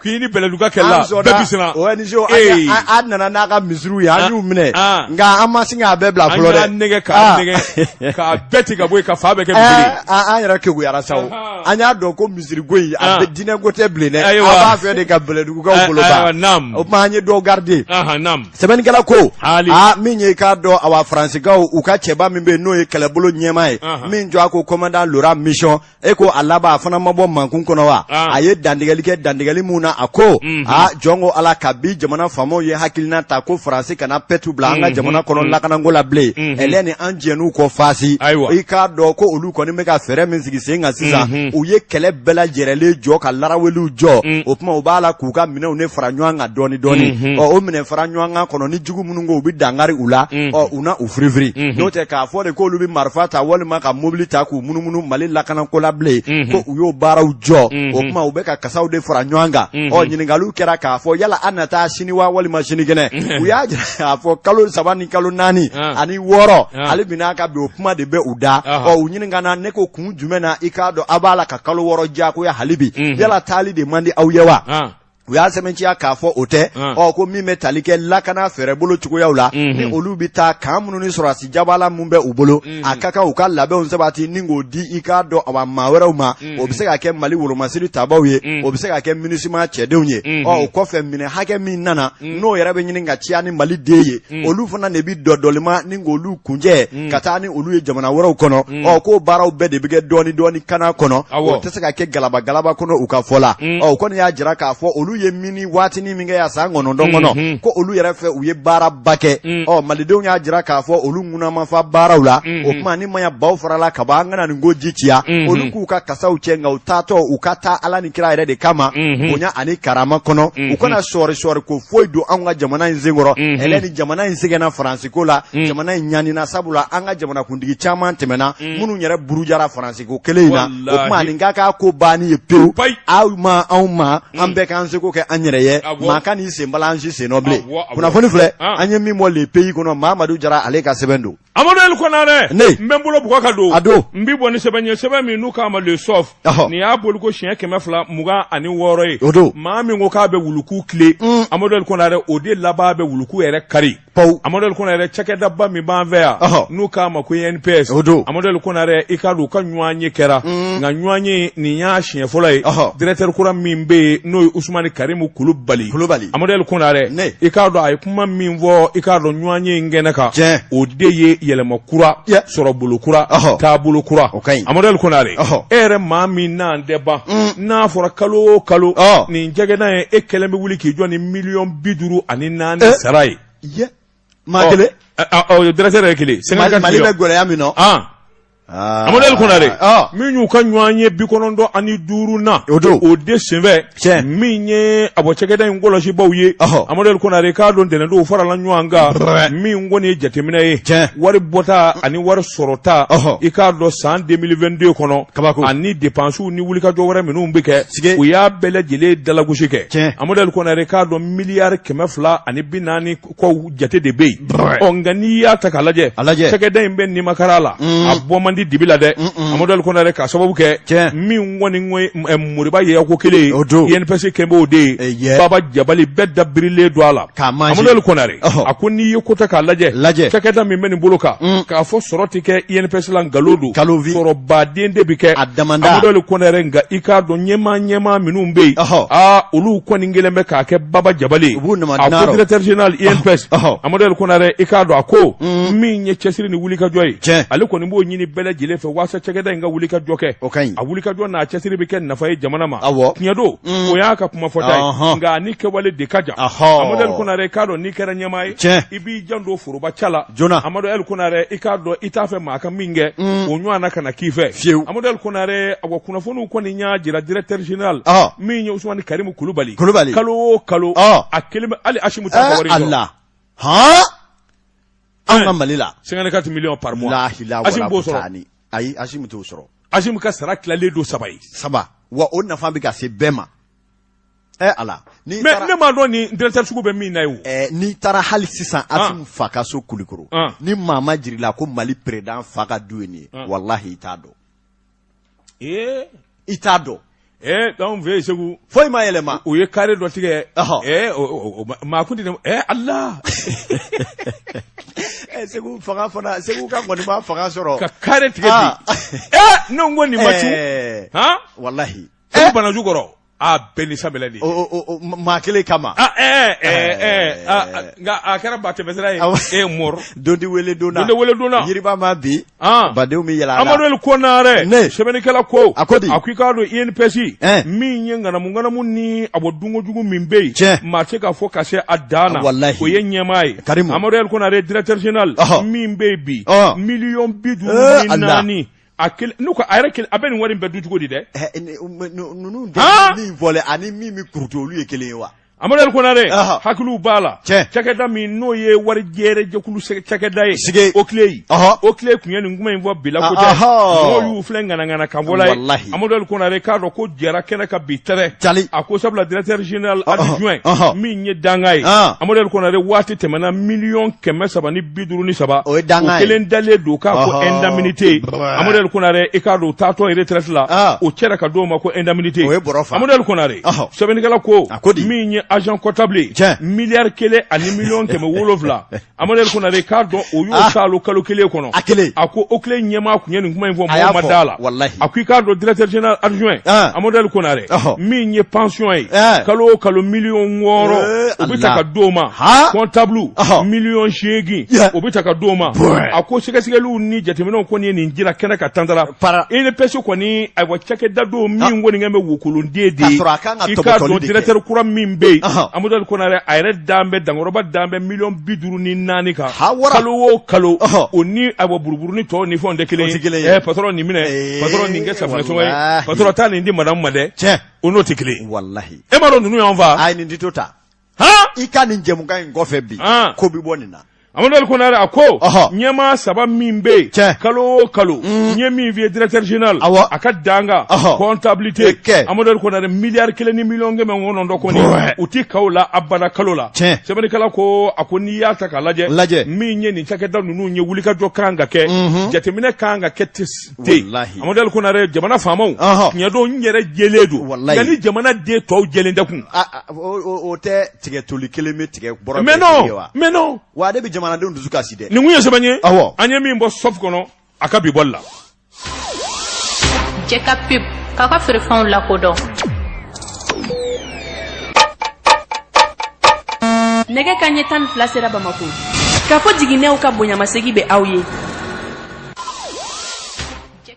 k'i ni bɛlɛdugukaw kɛlɛla bɛɛ bisimila o ni an nana n'a ka misiriw ye an y'u minɛ nka an ma sin k'a bɛɛ bila fɔlɔ dɛ nɛgɛ k' nɛgɛ k'a bɛɛ tigɛ ka bɔ yen ka fan bɛɛ kɛ misiri ye. Ɛɛ, an yɛrɛ kekuyara sa o Ahan. an y'a dɔn ko misiriko in a Ah. bɛ diinɛ ko tɛ bilen dɛ a Ayiwa. b'a fɛ de ka bɛlɛdugukaw Ɛ- bolo ayiwa, ban naam. o tuma an ye dɔw garide Ahan, naam. sɛbɛnnikɛla ko Haali. a min ye k'a dɔn awa faransikaw u ka cɛba min bɛ yen n'o ye kɛlɛbolo ɲɛmaa ye Ahan. min jɔ a ko kɔmandan Laurent Michon e ko a laban a fana ma bɔ mankun kɔnɔ wa a ye dantigɛli kɛ dantigɛli min na a ko aa jɔn ko ala kabi jamana faamaw ye hakilina ta ko faransi kana pɛtu bila an ka jamana kɔnɔ lakanako la bilen ɛlɛn ni an jɛn'u kɔ faasi i k'a dɔn ko olu kɔni bɛ ka fɛɛrɛ min sigi sen kan sisan u ye kɛlɛ bɛɛ lajɛrɛlen jɔ ka laraweliw jɔ o tuma u b'a la k'u ka minɛnw ne fara ɲɔgɔn kan dɔɔni dɔɔni ɔ o minɛn fara ɲɔgɔn kan kɔnɔ jugu minnu ko u bɛ dankari u la mhm. ɔ u na u firifiri mhm. n'o tɛ k'a fɔ de k'olu bɛ marifa ta walima ka mobili ta k'u munumunu mali lakanako la bilen mhm. ko u y'o baaraw jɔ o tuma u bɛ ka kasaw de fara ɲɔgɔn kan ɔ ɲininkaliw kɛra k'a fɔ yala an na taa sini wa walima sinikɛnɛ u y'a jira k'a fɔ kalo saba ni kalo naani ah. ani wɔɔrɔ ah. hali bi n'a ka bi o kuma de bɛ u da ɔ u ɲininkana ne ko kun jumɛn na i k'a dɔn aw b'a la ka kalo wɔɔrɔ diyagoya hali bi yala taali de man di aw ye wa ah. u y'a sɛmɛntiya k'a fɔ o tɛ Ɔn. ɔ ko min bɛ tali kɛ lakana fɛɛrɛbolo cogoyaw la Mhm. ni olu bɛ taa kan minnu ni sɔrɔdasi jabala minnu bɛ u bolo Mhm. a ka kan u ka labɛnw sabati ni k'o di i k'a dɔn a maa wɛrɛw ma Mhm. o bɛ se ka kɛ mali wolomasiri tabaw ye Mhm. o bɛ se ka kɛ MINUSMA cɛdenw ye Mhm. ɔ o kɔfɛ minɛn hakɛ min nana Mhm. n'o yɛrɛ bɛ ɲini ka ciya ni mali den ye Mhm. olu fana de bɛ dɔdɔlima ni k'olu kuncɛ Mm. ka taa ni olu ye jamana wɛrɛw kɔnɔ Mm. ɔ k'o baaraw bɛɛ de bɛ kɛ dɔɔni dɔɔni kana kɔnɔ Awɔ. o tɛ se ka kɛ galaba galaba kɔnɔ u ka fɔ la Mm. ɔ u kɔni y'a jira k'a fɔ olu ye mini waatini min kɛ yan san kɔnɔntɔn kɔnɔ Mhm. ko olu yɛrɛ fɛ u ye baaraba kɛ Mm. ɔ malidenw y'a jira k'a fɔ olu ŋuna ma fa baaraw la Mhm. o tuma ni maya baw farala ka bɔ an kana nin ko ji ciya Mhm. olu k'u ka kasaw cɛ nka u taatɔ u ka taa ala ni kira yɛrɛ de kama Mhm. bonya ani karama kɔnɔ Mhm. u kana sɔɔri sɔɔri ko foyi don anw ka jamana in senkɔrɔ Mhm. ɛlɛ ni jamana in sɛgɛnna faransi ko la jamana in ɲanina sabula an ka jamanakuntigi caman tɛmɛna minnu yɛrɛ burujara faransi ko kelen in na o tuma nin ka k'a ko ban ye pewu aw ma anw ma an bɛɛ k'an seko kɛ an yɛrɛ ye maa kan'i sen bala an si sennɔ bilen kunnafoni filɛ an ye min bɔ le pays kɔnɔ mamadu jara ale ka sɛbɛn don Amadu Ali Kɔnare ne n bɛ n bolo bugɔ ka don a don n bɛ bɔ ni sɛbɛn ye sɛbɛn min n'u k'a ma le soft nin y'a bɔli ko siɲɛ kɛmɛ fila mugan ani wɔɔrɔ ye o don maa min ko k'a bɛ wuluku tilen amadu ali kɔnare o de laban bɛ wuluku yɛrɛ kari Pawu. Amadu Ali Kɔnare cakɛdaba min b'an fɛ yan. Ɔhɔ. N'u k'a ma ko INPS. O don. Amadu Ali Kɔnare i k'a dɔn u ka ɲɔgɔn ye kɛra. Nka ɲɔgɔn ye nin y'a siɲɛ fɔlɔ ye. Ɔhɔ. Directeur kura min bɛ yen n'o ye Usumani Karimu Kulubali. Kulubali. Amadu Ali Kɔnare. Ne. I k'a dɔn a ye kuma min fɔ i k'a dɔn ɲɔgɔn ye in kɛnɛ kan. Tiɲɛ. O de ye yɛlɛma kura. Ya. Sɔrɔ bolo kura. Ɔhɔ. Taabolo kura. O ka ɲi. Amadu Ali Kɔnare. Ɔhɔ. E yɛrɛ maa min n'an tɛ ban. N'a fɔra kalo o kalo. Ɔ. Nin cakɛda in e kelen bɛ wuli k'i jɔ ni miliyɔn bi duuru ani naani eh. sara ye maa oh. kelen directeur yɛrɛ kelen sɛnɛgali mali bɛ gɛlɛya min na ah. amadu ali kɔnare ah. min y'u ka ɲɔgɔn ye bi kɔnɔntɔn ani duuru na o don o de senfɛ min ye a bɔ cɛkɛda in kɔlɔsibaaw ye amadu ali kɔnare k'a dɔn ntɛnɛndon u farala ɲɔgɔn kan min kɔni ye jateminɛ ye wari bɔta ani wari sɔrɔta i k'a dɔn san 2022 kɔnɔ kabako ani depansiw ni wulikajɔ wɛrɛ minnu bɛ kɛ tigɛ u y'a bɛɛ lajɛlen dalagosi kɛ tiɲɛ amadu ali kɔnare k'a dɔn miliyari kɛmɛ fila ani bi naani kɔ jate de bɛ yen ɔ nka n'i y'a ta k'a lajɛ a lajɛ cɛkɛda in bɛ nimakaran la mm. a bɔ man di dibi la dɛ amadu ali kɔnare k'a sababu kɛ tiɲɛ min kɔni moriba ye ko kelen ye o don INPS kɛlen b'o de ye baba jabali bɛɛ dabirilen don a la k'a man Amaduli Konare a ko n'i ye ko ta k'a lajɛ lajɛ cakɛda min bɛ nin bolo kan mm. k'a fɔ sɔrɔ tɛ kɛ INPS la nkalon don kalovi sɔrɔbaden de bɛ kɛ a damanda Amaduli Konare nka i k'a dɔn ɲɛmaa ɲɛmaa minnu bɛ yen aa olu kɔni kelen bɛ k'a kɛ baba jabali u b'u nama a ko directeur général INPS Amaduli Konare i k'a dɔn a ko mm. min ye cɛsiri ni wulikajɔ ye tiɲɛ ale kɔni b'o ɲini bɛɛ lajɛlen fɛ walasa cakɛda in ka wulikajɔ kɛ o ka ɲi a wulikajɔ n'a cɛsiri bɛ kɛ nafa ye jamana ma awɔ tiɲɛ don o y'a ka kuma fɔta ye nka a ni kɛwale de ka jan amadu ali konare k'a dɔn n'i kɛra ɲɛmaa ye i b'i janto foroba ta la joona amadu ali konare i k'a dɔn i t'a fɛ maa ka min kɛ o ɲɔgɔnna kana k'i fɛ fiyewu amadu ali konare a kunnafoniw kɔni y'a jira directeur général min ye usumani karimu kulubali kulubali kalo o kalo a kelen bɛ hali asimi ta wari la An ka Mali la 54 millions par mois lahila Assimi wala b'o sɔrɔ kutaani ayi Assimi t'o sɔrɔ Assimi ka sara tilalen don saba ye saba wa o nafa bɛ ka se bɛɛ ma ɛ Ala n'i mais taara ne m'a dɔn nin directeur sugu bɛ min na ye o ɛ n'i taara hali sisan Assimi fa ka so Kulikoro Ah. ni maa m'a jir'i la ko Mali président fa ka du ye nin ye Ah. walahi i t'a dɔn ee i t'a dɔn ee anw fɛ yen segu foyi ma yɛlɛma u ye carré dɔ tigɛ ee maa kun tɛ ee ala eh, segu fanga fana segu ka kɔni ma fanga sɔrɔ ka carré tigɛ bi ah. ee eh, ne ko nin ma cun eh. walahi segu banaju kɔrɔ aa bɛɛ ni sabɛlɛ de ye. o o o maa kelen kama. ah ɛɛ ɛɛ ɛɛ ah, ah, nka a kɛra ba tɛmɛsira ye. Awɔ. e mɔr. dondi wele donna. Dondi wele donna. yiriba ma bi. Ah. badenw bɛ yɛlɛ a la. amadu el konare. Ne. sɛbɛnnikɛla ko. A ko di? a ko i k'a dɔn inps. Ɛn. min ye ŋanamu ŋanamu ni a bɔ dunko jugu min bɛ yen. Tiɲɛ. maa tɛ k'a fɔ ka se a dan na. Walahi. o ye ɲɛmaa ye. Karimu. amadu el konare directeur général. Ɔhɔ. min bɛ yen bi. Ɔhɔ. miliyɔn bi duuru Ee, ni Ala. naani. a kelen n'u ko a yɛrɛ kelen a bɛ nin wari in bɛɛ dun cogo di dɛ. Ɛɛ eh, ninnu de ye min fɔlen ani min bɛ kurutu olu ye kelen ye wa. Amadu Konare hakili b'a la cakɛda min n'o ye wari jɛrɛ jɛkulu cakɛda ye sigi o tile yi o tile tun ye nin kuma in fɔ bila ko tɛ mɔgɔw y'u filɛ ŋanaŋana kan bɔla ye Amadu Konare k'a dɔn ko jɛra kɛnɛ kan bi tɛrɛ cali a ko sabula directeur général adjoint min ye danga ye Amadu Konare waati tɛmɛna miliyɔn kɛmɛ saba ni bi duuru ni saba o ye danga ye kelen dalen don k'a ko indemnité amadu konare i k'a dɔn taatɔ retraite la ah. o cɛra ka d'o ma ko indemnité o ye bɔrɔ fa amadu konare sɛbɛnnikɛla ko a ko di min ye agent comptable ye miliyari kelen ani miliyɔn kɛmɛ wolonwula amadu konare k'a dɔn o y'o ah. sɔrɔ kalo kelen kɔnɔ a kelen a ko o kelen ɲɛmaa tun ye nin kuma in fɔ mɔgɔ ma d'a la a ko i k'a dɔn directeur général adjoint ah. amadu konare min ye pension ye eh. kalo o kalo miliyɔn wɔɔrɔ eh, o bɛ ta ka d'o ma comptable miliyɔn seegin o bɛ ta ka d'o ma a ko sɛgɛsɛgɛliw ni jateminɛw kɔni ye nin jira kɛnɛ kan tantara INPS kɔni ayiwa cakɛda don min kɔni kɛ bɛ wokolonden de ye i k'a dɔn directeur kura min bɛ yen amadu konare a yɛrɛ dan bɛ dankɔrɔba dan bɛ miliyɔn bi duuru ni naani kan kalo o kalo o ni ayiwa buruburunin tɔw ni fɛnw tɛ kelen ye patɔrɔn nin minɛ patɔrɔn nin kɛ safunɛ sɔngɔ ye patɔrɔn taa nin di madamu ma dɛ o n'o tɛ kelen ye e m'a dɔn ninnu y'an faa ayi nin tɛ to tan i ka nin jɛmukan in kɔfɛ bi ko bɛ bɔ nin na amaduli konare a ko ɲɛmaa saba min bɛ yen kalo o kalo mm. n ye min f'i ye directeur général a ka dankan comptabilité amaduli konare miliyari kelen ni miliyɔn kɛmɛ kɔnɔntɔn kɔni u ti kaw la abada kalo la sɛbɛnnikɛla ko a ko n'i y'a ta k'a lajɛ min ye nin cakɛda ninnu ye wulikajɔ kan ka kɛ mhm. jateminɛ kan ka kɛ Amadu konare jamana faamaw tiɲɛ don u yɛrɛ jɛlen don nka ni jamanaden tɔw jɛlen tɛ kun o tɛ tigɛ toli kelen bɛ tigɛ bɔrɔ minɛ wa ale bɛ jamanadenw dusu kasi dɛ nin ye sɛbɛn ye aw an ye min bɔ soft kɔnɔ a ka bi bɔli la jeka pub k'a ka feerefɛnw lakodɔn nɛgɛ kanɲɛ tan ni fila sera bamakɔ kafo jiginɛw ka bonyamasegin bɛ aw ye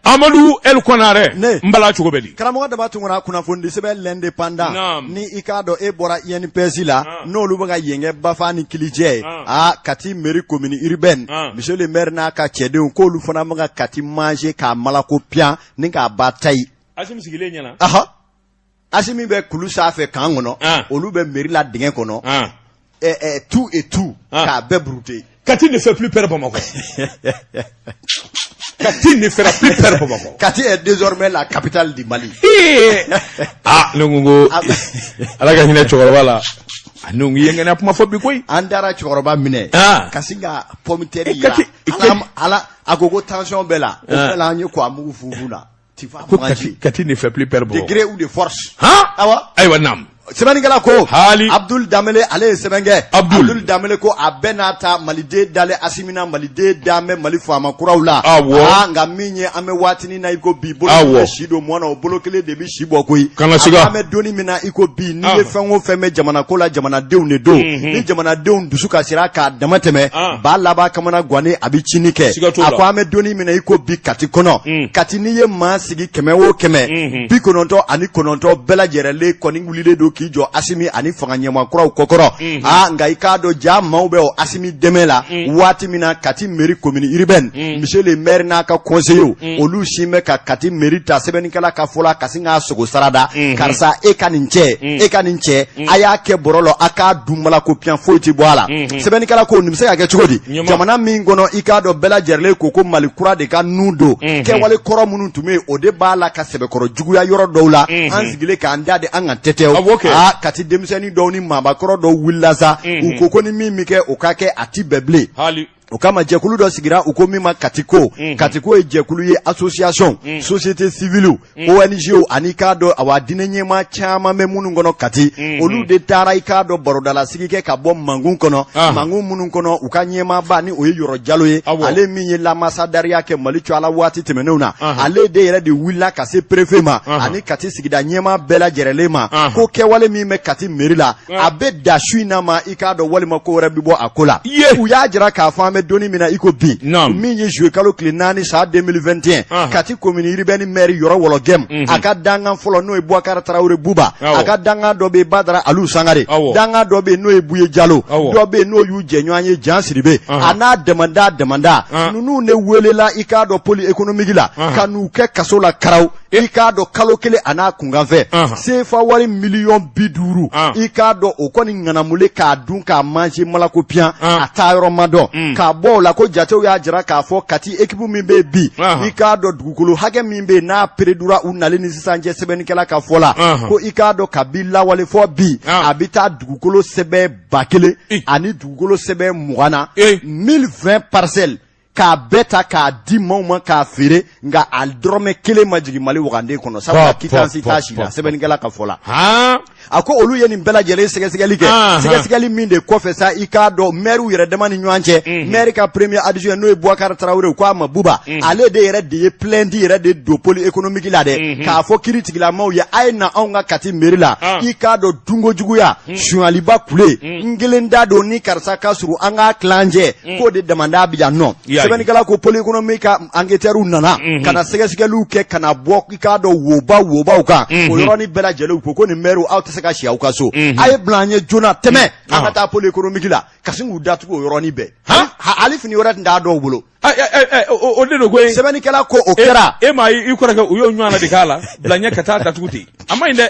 Amadu konare n bala cogo bɛ di karamɔgɔ daba tunkara kunnafonidisɛbɛn l'indépendant ni i k'a dɔn e bɔra INPS la n'olu bɛ ka yen kɛ bafa ni kilijɛ ye aa kati mairie commune urbaine monsieur le maire n'a ka cɛdenw k'olu fana bɛ ka kati manger k'a malako piyan ni k'a ba ta asimi bɛ kulu sanfɛ kan kɔnɔ ah. olu bɛ mairie la dingɛ kɔnɔ ah. eh, eh, tout et tout ah. k'a bɛɛ brouter kati ne fait plus peur bamakɔ kati ne fera plus peur bamakɔ kati est désormais la capitale du mali ah ne ko ko ala ka hinɛ cɛkɔrɔba la ani u ye ŋɛnɛ kuma fɔ bi koyi an taara cɛkɔrɔba minɛ ka sin ka pɔmitɛri yira a la a ko kɔgɔ tension b'a la o bɛɛ la an ye kɔgɔ mugu fufu a la ko kati kati ne fait plus peur bamakɔ de gré ou de force han awa ayiwa naam sɛbɛnnikɛla ko hali abdul damele ale ye sɛbɛn kɛ abdul damele ko a bɛɛ n'a ta maliden dalen asimi na maliden dalen bɛ mali faama kuraw la awɔ aa nka min ye an bɛ waati min na i ko bi bolo kelen bɛ si don mɔɔ na o bolo kelen de bɛ si bɔ koyi kana siga an bɛ donni min na i ko bi n'i ye fɛn o fɛn bɛ jamana ko la jamanadenw de don mhm. ni jamanadenw dusu kasira k'a damatɛmɛ ah. ba laban kamanagannen a bɛ cinni kɛ a ko an bɛ donni min na i ko bi kati kɔnɔ mm. kati n'i ye maa sigi kɛmɛ o kɛmɛ mhm. bi kɔnɔntɔn ani kɔnɔntɔn bɛɛ lajɛlen kɔni wulilen don k'i jɔ asimi ani fanga ɲɛmaa kuraw kɔkɔrɔ mhm. aa ah, nka i k'a dɔn jama bɛ o asimi dɛmɛ la mm. waati min na kati mairie commune urbaine mm. monsieur le maire n'a ka kɔnseyew olu si bɛ ka kati mairie ta sɛbɛnnikɛla ka fɔ la ka k'a sogo sarada mhm. karisa e ka nin cɛ mhm. e ka nin cɛ mhm. a y'a kɛ bɔrɔ la a k'a dun malako piyan foyi tɛ bɔ a la sɛbɛnnikɛla ko nin bɛ se ka kɛ cogo di jamana min kɔnɔ i k'a dɔn bɛɛ lajɛlen ko ko mali kura de kanu don kɛwale kɔrɔ minnu tun bɛ yen o de b'a la ka sɛbɛkɔrɔ juguya yɔrɔ dɔw la an sigilen k'an da de an ka tɛtɛw aa kati denmisɛnnin dɔw ni maabakɔrɔ dɔw wulila sa u ko ko ni min bɛ kɛ o ka kɛ a ti bɛn bilen o kama jɛkulu dɔ sigira u ko min ma katiko mm -hmm. katiko ye jɛkulu ye association mm -hmm. société civile mm -hmm. ONG ani k'a dɔn awa diinɛ ɲɛmaa caman bɛ minnu kɔnɔ kati mm -hmm. olu de taara i k'a dɔn barodalasigi kɛ ka bɔ mangun kɔnɔ ah. mangun minnu kɔnɔ u ka ɲɛmaaba ni o ye yɔrɔ jalo ye Awo. ale min ye lamasadariya kɛ mali tɔgɔ la waati tɛmɛnenw na uh -huh. ale de yɛrɛ de wulila ka se perefe ma uh -huh. ani kati sigida ɲɛmaa bɛɛ lajɛrɛlen ma uh -huh. ko kɛwale min bɛ kati meri la a bɛ da su in na ma i k'a dɔn walima ko wɛrɛ bɛ bɔ a ko la u y'a jira k'a fɔ an bɛ don in min na i ko bi min ye juwɛn kalo tile naani san 2021 kati komini urbaine mɛri yɔrɔ wɔlɔgɛmu mhm. a ka dankan fɔlɔ n'o ye buwakari tarawele buba a ka dankan dɔ bɛ yen badara alu sangare dankan dɔ bɛ yen n'o ye buye jalo dɔ bɛ yen n'o y'u jɛɲɔgɔn ye jan siribe a n'a damanda damanda ninnu ne welela i k'a dɔn poli ekonomiki la ka n'u kɛ kaso la karaw i k'a dɔn kalo kelen a n'a kunkanfɛn sefa wari miliyɔn bi duuru i k'a dɔn o kɔni ŋanamulen k'a dun k'a manger malako piyan a taa yɔrɔ ma dɔn mm. k'a bɔ o la ko jatew y'a jira k'a fɔ kati ekipu min bɛ bi i k'a dɔn dugukolo hakɛ min bɛ n'a peredura u nali ni sisan cɛ sɛbɛnnikɛla ka fɔ la ko i k'a dɔn kabi lawale fɔ bi a bɛ taa dugukolo sɛbɛn ba kelen ani dugukolo sɛbɛn mugan na 1020 parcelles k'a bɛɛ ta k'a di maaw ma k'a feere nka a dɔrɔmɛ kelen ma jigin mali wagande kɔnɔ sabula kitansi t'a si la sɛbɛnnikɛla ka fɔ la a ko olu ye nin bɛɛ lajɛlen sɛgɛsɛgɛli kɛ sɛgɛsɛgɛli min de kɔfɛ sa i k'a dɔn mɛriw yɛrɛ dama ni ɲɔgɔn cɛ mhm. mɛri ka premier adjoint n'o ye buwakari tarawele ko a ma buba mhm. ale de yɛrɛ de ye plainte yɛrɛ de don pôle économique la dɛ mhm. k'a fɔ kiiritigɛla maaw ye a ye na anw ka kati meri la ah. i k'a dɔn dunkojuguya sunyaliba kule n kelen da don ni karisa ka surun an k'a tila an cɛ mm. k'o de damanda bɛ yan nɔ sɛbɛnnikɛla ko poli ekonomiki ka anketɛriw nana mm-hmm. ka na sɛgɛsɛgɛliw kɛ ka na bɔ i k'a dɔn woba wobaw kan o mm-hmm. yɔrɔnin bɛɛ lajɛlen ko ko nin mɛriw aw tɛ se ka si aw ka so mm-hmm. a ye bila an ye joona tɛmɛ an ka ah. taa poli ekonomiki la ka sin k'u datugu o yɔrɔnin bɛɛ hali fini wɛrɛ tun t'a dɔw bolo o de don ko sɛbɛnnikɛla ko o e, kɛra e m'a ye i kɔrɔkɛ u y'o ɲɔgɔnna de k'a la bila ɲɛ ka taa datugu ten a ma ɲi dɛ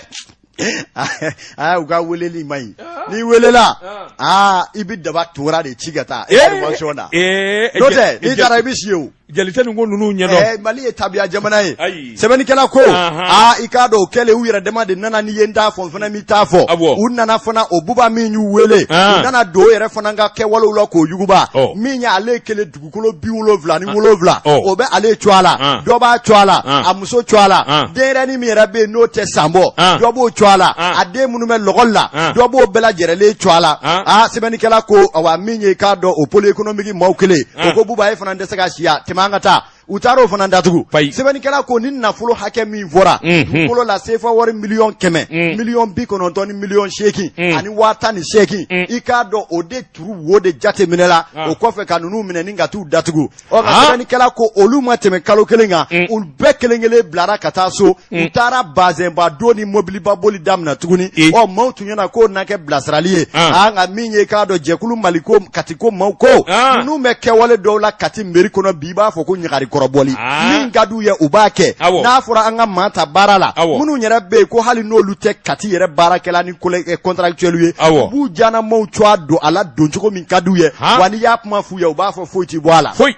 u ka weleli ma ɲi ah. n'i welela ah. aa i bɛ daba tora de ci ka taa eh. information na eh. n'o tɛ n'i taara i bɛ si o jali tɛ nin ko ninnu ɲɛdɔn eh, mali ye tabiya jamana ye sɛbɛnnikɛla ko aa i k'a dɔn o kɛlen u yɛrɛ dama de nana n'i ye n ta fɔ n fana b'i ta fɔ u nana fana o buba min y'u wele ah. u nana don o yɛrɛ fana ka kɛwalew la k'o yuguba oh. min y'ale kelen dugukolo bi wolowula ni wolowula o bɛ ale tɔgɔ la dɔ b'a tɔgɔ la a muso tɔgɔ la denyɛrɛnin min yɛrɛ bɛ yen n'o tɛ san bɔ dɔ b'o tɔgɔ la a den minnu bɛ lɛkɔli la dɔ b'o bɛɛ lajɛrɛlen tɔgɔ la aa sɛbɛnnikɛla ko awa min ye k'a dɔn o pôle économique maaw kɛlen o ko buba e fana tɛ se ka si yan tɛmɛ an ka taa u taara o fana datugu sɛbɛnnikɛla ko nin nafolo hakɛ min fɔra dugukolo la sefa wari miliyɔn kɛmɛ miliyɔn bi kɔnɔntɔn ni miliyɔn seegin ani waa tan ni seegin i k'a dɔn o de turu wo de jate minɛ la ah. o kɔfɛ ka ninnu minɛ ni ka t'u datugu ɔ nka ah. sɛbɛnnikɛla ko olu ma tɛmɛ kalo kelen kan mm. olu bɛɛ kelen kelen bilara ka taa so mm. u taara bazɛnba don ni mobiliba boli daminɛ tuguni ɔ maaw tun ɲɛna k'o na kɛ bilasirali ye ah. a nka min ye k'a dɔn jɛkulu mali ko kati ko maaw ko ninnu bɛ kɛwale dɔw la kati meri kɔnɔ bi i b'a fɔ ko ɲagari kɔrɔbɔli min ka d'u ye u b'a kɛ n'a fɔra an ka maa ta baara la minnu yɛrɛ bɛ yen ko hali n'olu tɛ kati yɛrɛ baarakɛla ni eh, contractuel ye u b'u diyanamaaw tɔgɔ don a la don cogo min ka d'u ye wa n'i y'a kuma f'u ye u b'a fɔ foyi ti bɔ a la foyi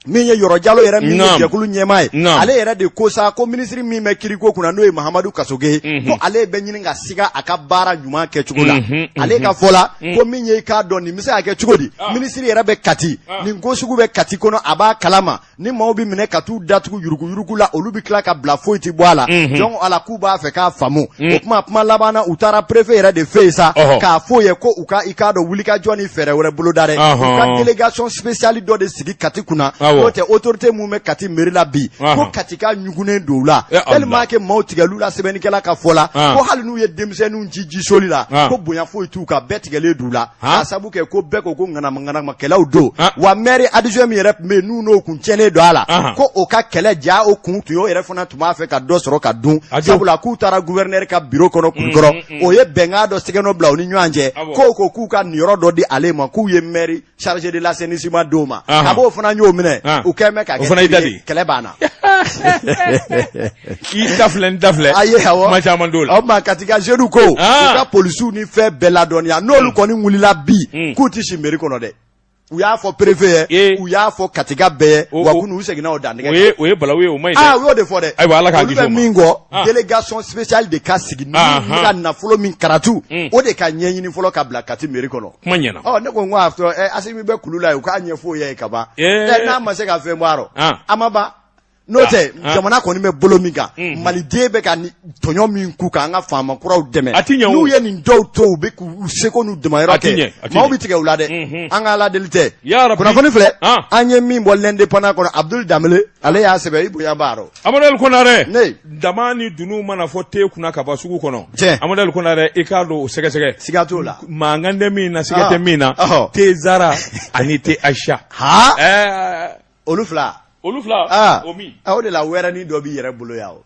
min ye yɔrɔ jalo yɛrɛ min ye jɛkulu ɲɛmaa ye ale yɛrɛ de ko sa ko minisiri min bɛ kiiriko kunna n'o ye mahamadu kasoge mhm. ko ale bɛ ɲini ka siga a ka baara ɲuman kɛcogo la mhm, mhm. ale ka fɔ la ko min ye i k'a dɔn nin bɛ se ka kɛ cogo di ah. minisiri yɛrɛ bɛ kati ah. nin ko sugu bɛ kati kɔnɔ a b'a kalama ni maaw bɛ minɛ ka t'u datugu yuruguyurugu la olu bɛ tila ka bila foyi tɛ bɔ a la mhm. donc ale k'u b'a fɛ k'a faamu mhm. o tuma kuma laban na u taara prefe yɛrɛ de fɛ yen sa k'a f'o ye ko u ka i k'a dɔn wulikajɔ ni fɛɛrɛ wɛrɛ boloda dɛ u ka delegation spéciale dɔ de sigi kati kunna n'o tɛ autorité min bɛ kati meri la bi ko katikaw ɲugunnen don u la tellement que maaw tigɛl'u la sɛbɛnnikɛla ka fɔ la ko hali n'u ye denmisɛnninw ci jisoli la ko bonya foyi t'u kan bɛɛ tigɛlen don u la K'a sabu kɛ ko bɛɛ ko ko ŋanamaŋanamakɛlaw don wa maire adjoint min yɛrɛ tun bɛ yen n'u n'o kun cɛnnen don a la ko o ka kɛlɛ jaa o kun tun o yɛrɛ fana tun b'a fɛ ka dɔ sɔrɔ ka dun a la k'u taara gouverneur ka bureau kɔnɔ kulikɔrɔ o ye bɛnkan dɔ sigi ka bila u ni ɲɔgɔn cɛ k' ko k'u ka niyɔrɔ dɔ di ale ma k'u ye maire chargé de l'assainissement d'o ma a b'o fana y'o minɛ u kɛlen kɛlɛ banna i da filɛ n da filɛ a ye awɔ kuma caman t'o la o tuma kati ka jeunes ko Ah. u ka polisiw ni fɛn bɛɛ ladɔnniya n'olu kɔni wulila bi Mm. k'u tɛ si meri kɔnɔ dɛ u y'a fɔ perefe ye Ee. u y'a fɔ katikaw bɛɛ ye O- wa o- kunu u seginna o dantigɛ o kan. ye o ye balawu ye o man ɲi aa dɛ u y'o de fɔ dɛ Ayiwa, Ala k'an olu kisi o bɛ ma. min kɔ Ah. délégation spéciale de ka sigi ni Ah, ni ah. ka nafolo min karatu Mm. o de ka ɲɛɲini fɔlɔ ka bila kati meri kɔnɔ kuma ɲɛna ɔ ne ko n ko a fɔ ɛ asimi bɛ kulu la yen u k'a ɲɛfɔ o ye ka ban Ee. ɛ n'a ma se ka fɛn bɔ a rɔ Ah. a ma ban n'o tɛ ah, ah. jamana kɔni bɛ bolo min kan mm-hmm. maliden bɛ ka tɔɲɔ min k'u kan an ka faama kuraw dɛmɛ n'u ye nin dɔw to u bɛ k'u seko n'u damayɔrɔ kɛ maaw bɛ tigɛ u la dɛ mm-hmm. an ka ala deli tɛ kunnafoni filɛ ah. an ye min bɔ l'Indépendant kɔnɔ abudul danbele ale y'a sɛbɛn i bonya b'a rɔ amadu el konare ne tama ni dunun mana fɔ te kunna ka ban sugu kɔnɔ tiɲɛ amadu el konare i k'a don o sɛgɛsɛgɛ siga t'o la mankan tɛ min na siga tɛ min na te zara ani te aisha olu fila olu fila ah. o min o ah, de la wɛrɛnin dɔ b'i yɛrɛ bolo yan o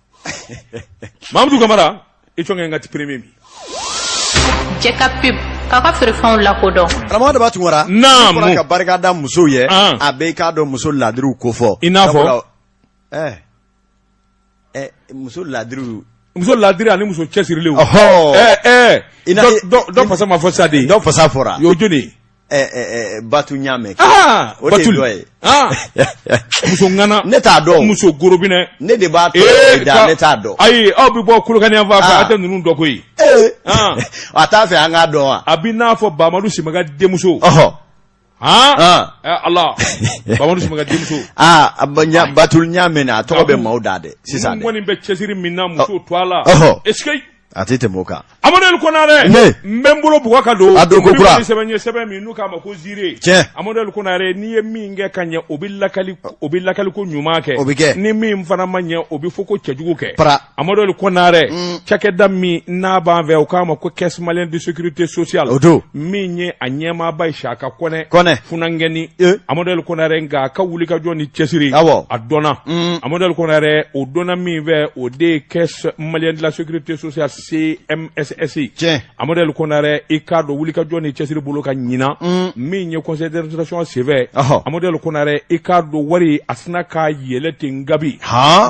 mamudu kamara i tɔnkɛ n ka ti premier bi jɛ ka pub k'a ka feerefɛnw lakodɔn karamɔgɔ daba tunkara naamu fɔra ka barika da musow ye ah. a bɛ i k'a dɔn muso laadiriw ko fɔ i n'a fɔ ɛɛ eh. muso laadiri muso laadiri ani muso cɛsirilen dɔ fasa ma fɔ sa de dɔ fasa fɔra y'o joli batu ɲame o de ye muso ŋana ne t'a dɔn muso gorobinɛ ne de b'a da ne t'a dɔn ayi aw bɛ bɔ kolokani yan fan fɛ a tɛ ninnu dɔn koyi a t'a fɛ an k'a dɔn wa a bɛ n'a fɔ bamadu simaga denmuso Han Ɔn. ɛ Ala Bamadu Simaga denmuso Aa a ba- ɲa- Batul Ɲame a tɔgɔ bɛ maaw da dɛ sisan ninnu dɛ. kɔni bɛ cɛsiri min na muso to a la Ɔhɔ. est ce que A tɛ tɛmɛ o kan. Amadu El Konare Ne. n bɛ n bolo bugɔ ka don A don ko Olu kura. kɔni sɛbɛn ye sɛbɛn min n'u k'a ma ko ziire Tiɲɛ. Amadu El Konare n'i ye min kɛ ka ɲɛ o bɛ lakali o bɛ lakali ko ɲuman kɛ O bɛ kɛ. ni min fana ma ɲɛ o bɛ fɔ ko cɛjugu kɛ Para Amaduli kore cɛda min n'a b'a fɛ u k'a ma ko kɛ sumalen de sete sosoya la o don min ye a ɲɛmaaba ye si a ka kɔnɛ kɔnɛ fgɛnni amaduli kore nka a ka wuli ka jɔn ni cɛsiri aw a dɔn amaduli kore o dɔn min fɛ o de ye kɛ mali dilanla sete sosoya se ɛssise cɛ Amadu El Konare i k'a dɔn wulikajɔ ni cɛsiri bolo kan ɲinan mm. min ye conseil d'administration senfɛ Amadu El Konare i k'a dɔn wari a sinna ka yɛlɛn ten kabi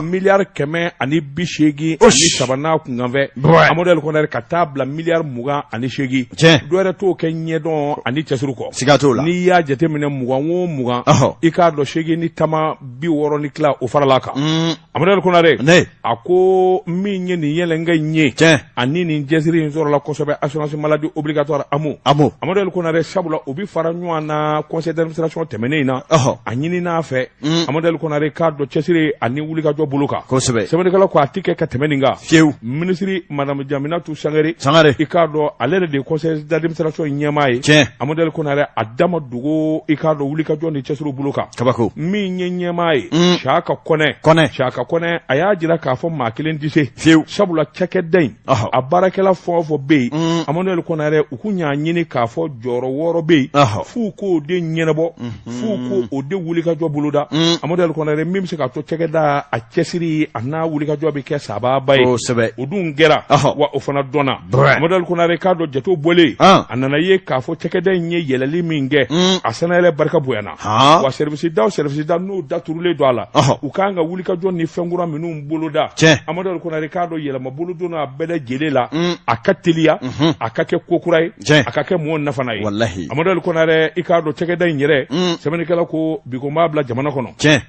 miliyari kɛmɛ ani bi seegin ani saba n'a kunkanfɛn Amadu El Konare ka taa bila miliyari mugan ani seegin dɔ wɛrɛ t'o kɛ ɲɛdɔn ani cɛsiri kɔ siga t'o la n'i y'a jateminɛ mugan o mugan i k'a dɔn seegin ni tama bi wɔɔrɔ ni tila o faral'a kan mm. Amadu El Konare ne a ko min ye nin yɛlɛnkɛ in ye tiɲɛ ani nin cɛsiri in sɔrɔla kosɛbɛ assurance maladie obligatoire AMO AMO Amadu El Konare sabula o bɛ fara ɲɔgɔn na conseil d'administration tɛmɛnen in na ɔhɔ a ɲinin'a fɛ Mm. Amadu El Konare i k'a dɔn cɛsiri ani wulikajɔ bolo kan kosɛbɛ sɛbɛnnikɛlaw ko a tɛ kɛ ka tɛmɛ nin kan fiyewu minisiri madame Jaminatu Sangare sangare i k'a dɔn ale yɛrɛ de ye conseil d'administration ɲɛmaa ye tiɲɛ Amadu El Konare a da ma dogo i k'a dɔn wulikajɔ ni cɛsiri bolo kan kabako min ye ɲɛmaa ye mm. saka kɔnɛ kɔnɛ saka kɔnɛ a y'a jira k'a fɔ maa kelen tɛ se fiyewu sabula cakɛda in a baarakɛla fɛn o fɛn bɛ yen mm. amadu konare u k'u y'a ɲini k'a fɔ jɔyɔrɔ wɔɔrɔ bɛ yen f'u k'o de ɲɛnabɔ mm-hmm. f'u k'o de wulikajɔ boloda mm. amadu konare min bɛ se k'a to cakɛda a cɛsiri a n'a wulikajɔ bɛ kɛ sababa ye kosɛbɛ o dun kɛra wa o fana dɔnna amadu konare k'a dɔn jatew bɔlen ah. a nana ye k'a fɔ cakɛda in ye yɛlɛli min kɛ a sannayɛlɛn barika bonyana Han. wa service da o service da n'o daturulen don a la Ɔhɔ. u k'an ka wulikajɔ ni fɛn kura minnu boloda Tiɲɛ. amadu konare i k'a dɔn yɛlɛma bolo donna a bɛɛ lajɛlen la Mm. a ka teliya Mhm. a ka kɛ ko kura ye Tiɲɛ. a ka kɛ mɔgɔ nafana ye Walahi. amadu konare i k'a dɔn cɛkɛda in yɛrɛ Mm. sɛbɛnnikɛla ko bi ko n b'a bila jamana kɔnɔ Tiɲɛ.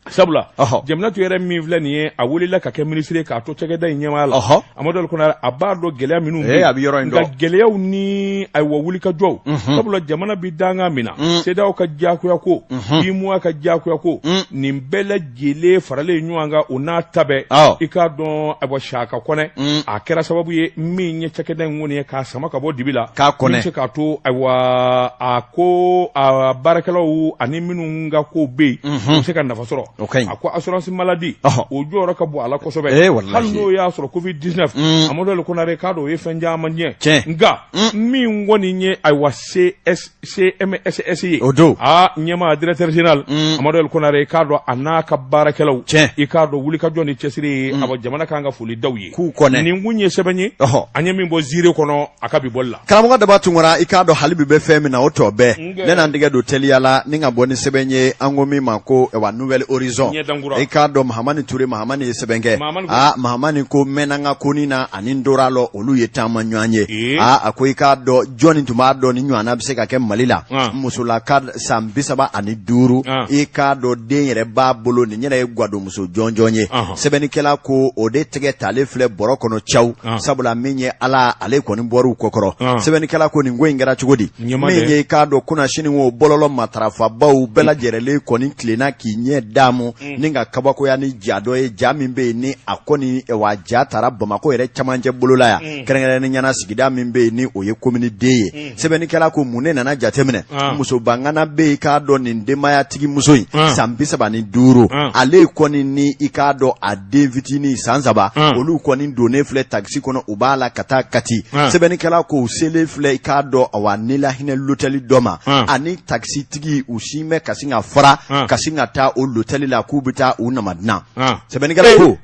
sabula jaminatu yɛrɛ min filɛ nin ye a welela ka kɛ minisiri k'a to cɛkɛda in ɲɛmaya la amadu konare a b'a dɔn gɛlɛya minnu eh, a bɛ yɔrɔ in nka gɛlɛyaw ni ayiwa wulikajɔw mhm. sabula jamana bɛ danga min na mm. CEDEAO ka diyagoya ko UEMOA mhm. ka diyagoya ko mm. nin bɛɛ lajɛlen faralen ɲɔgɔn kan o n'a ta bɛɛ i k'a dɔn ayiwa saka kɔnɛ mm. a kɛra sababu ye min ye cɛkɛda in kɔni ye k'a sama ka bɔ dibi la min bɛ se k'a to ayiwa a ko a baarakɛlaw ani minnu ka ko bɛ yen u bɛ se ka nafa sɔrɔ a ko assurance maladie o jɔyɔrɔ ka bon a la kosɛbɛ hali n'o y'a sɔrɔ covid dix-neuf amadu konare k'a dɔn o ye fɛn caman tiɲɛ cɛ nka min kɔni ye ayiwa CMSS ye o don aa ɲɛmaa directeur général amadu konare k'a dɔn a n'a ka baarakɛlaw cɛ i k'a dɔn wulikajɔ ni cɛsiri ye a jamana ka kan ka foli da u ye k'u kɔnɛ nin tun ye sɛbɛn ye an ye min bɔ ziiri kɔnɔ a ka bi bɔli la karamɔgɔ daba tunkara i k'a dɔn hali bi bɛ fɛn min na o tɔ bɛɛ ne n'an tɛgɛ don teliya la ni ka bɔ ni sɛbɛn ye an ko min ma ko wa nouvel horizon i k'a dɔn mahamani ture mahamani ye sɛbɛn kɛ aa mahamani ko mɛnna ka koni na ani n dora lɔ olu ye taama ɲɔgɔn ye aa a ko i k'a dɔn jɔni tun b'a dɔn nin ɲɔgɔnna bɛ se ka kɛ mali la musolaka san bi saba ani duuru i k'a dɔn den yɛrɛ b'a bolo nin yɛrɛ ye gwadon muso jɔnjɔn ye sɛbɛnnikɛla ko o de tɛgɛ talen filɛ bɔrɔ kɔnɔ caw sabula min ye ala ale kɔni bɔr'u kɔkɔrɔ sɛbɛnnikɛla ko nin ko in kɛra cogo di min ye i k'a dɔn kunasinin o bɔlɔlɔ matarafabaw bɛɛ lajɛlen kɔni tilenna k'i ɲɛ daamu mm. ni ka kabakoya ni ja dɔ ye ja min bɛ yen ni a kɔni wa ja taara bamakɔ yɛrɛ camancɛ bolola yan mm. kɛrɛnkɛrɛnnenya na sigida min bɛ yen ni o ye commune deux ye mm. sɛbɛnnikɛla ko mun de nana jateminɛ ah. muso bangana bɛ yen i k'a dɔn nin denbayatigi muso in ah. san bi saba ni duuru ah. ale kɔni ni i k'a dɔn a den fitinin san saba olu kɔni donnen filɛ takisi kɔnɔ u b'a la ka taa kati sɛbɛnnikɛla ko u selen filɛ i k'a dɔn awa nilahinɛ lotɛli dɔ ma ani takisi tigi u sin bɛ ka sin ka fara ka sin ka taa o lotɛli la k'u bɛ taa u nama dilan sɛbɛnnikɛla ko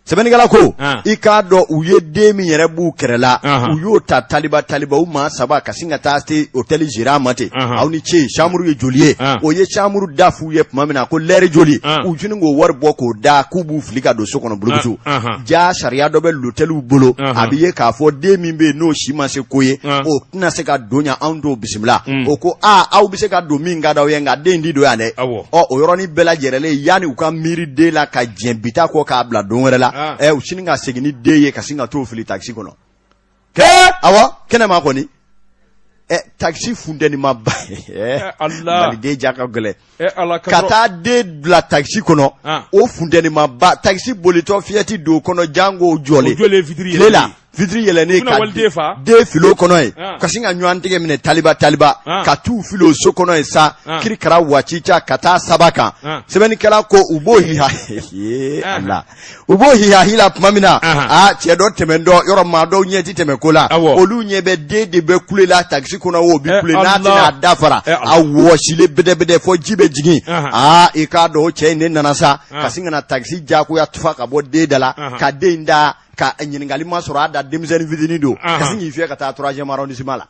sɛbɛnnikɛla ko ah. i k'a dɔn u ye den min yɛrɛ b'u kɛrɛ la ah. u y'o ta taliba taliba u maa saba ka sin ka taa se hôtel gérant ma ten ah. aw ni ce chambre ye joli ye o ye chambre da f'u ye tuma min na ko lɛri joli u jini k'o wari bɔ k'o da k'u b'u fili ka don so kɔnɔ bulukutu jaa sariya dɔ bɛ lotɛliw bolo a bɛ ye k'a fɔ den min bɛ yen n'o si ma se ko ye o tɛna se ka don yan anw t'o bisimila mm. o ko aa aw bɛ se ka don min ka d'aw ye nka den ti don yan dɛ ɔ o yɔrɔnin bɛɛ lajɛrɛlen yanni u ka miiri den la ka diɲɛ bi ta kɔ k'a bila don wɛrɛ la ah. ɛ u sini ka segin ni den ye ka sin ka t'o fili takisi kɔnɔ kɛ awa kɛnɛma kɔni ɛ takisi funtɛnimaba dɛ maliden ja ka gɛlɛ ka taa den bila takisi kɔnɔ ah. o funtɛnimaba takisi bolitɔ fiyɛ ti don kɔnɔ janko jɔlen tile la vitiri yɛlɛnnen ka den fil'o kɔnɔ yen ah. ka sin ka ɲɔgɔn tigɛ minɛ taliba taliba ah. ka t'u fili so kɔnɔ yen sa ah. kirikara watita ka taa saba kan sɛbɛnnikɛla ko u b'o hiha la u b'o hihahi la tuma min na a cɛ dɔ tɛmɛntɔ yɔrɔ maa dɔw ɲɛ ti tɛmɛn ko la olu ɲɛ bɛ den de bɛ kule la takisi kɔnɔ o bi eh, kule n'a tɛna a da fara eh, a wɔsilen bɛdɛbɛdɛ fɔ ji bɛ jigin aa i k'a dɔn o cɛ in de nana sa ka sin ka na takisi diyagoya tufa ka bɔ den da la ka den ta ka ɲininkali ma sɔrɔ a da denmisɛnnin fitinin don Ahan. ka sin k'i fiyɛ ka taa troisième arrondissement la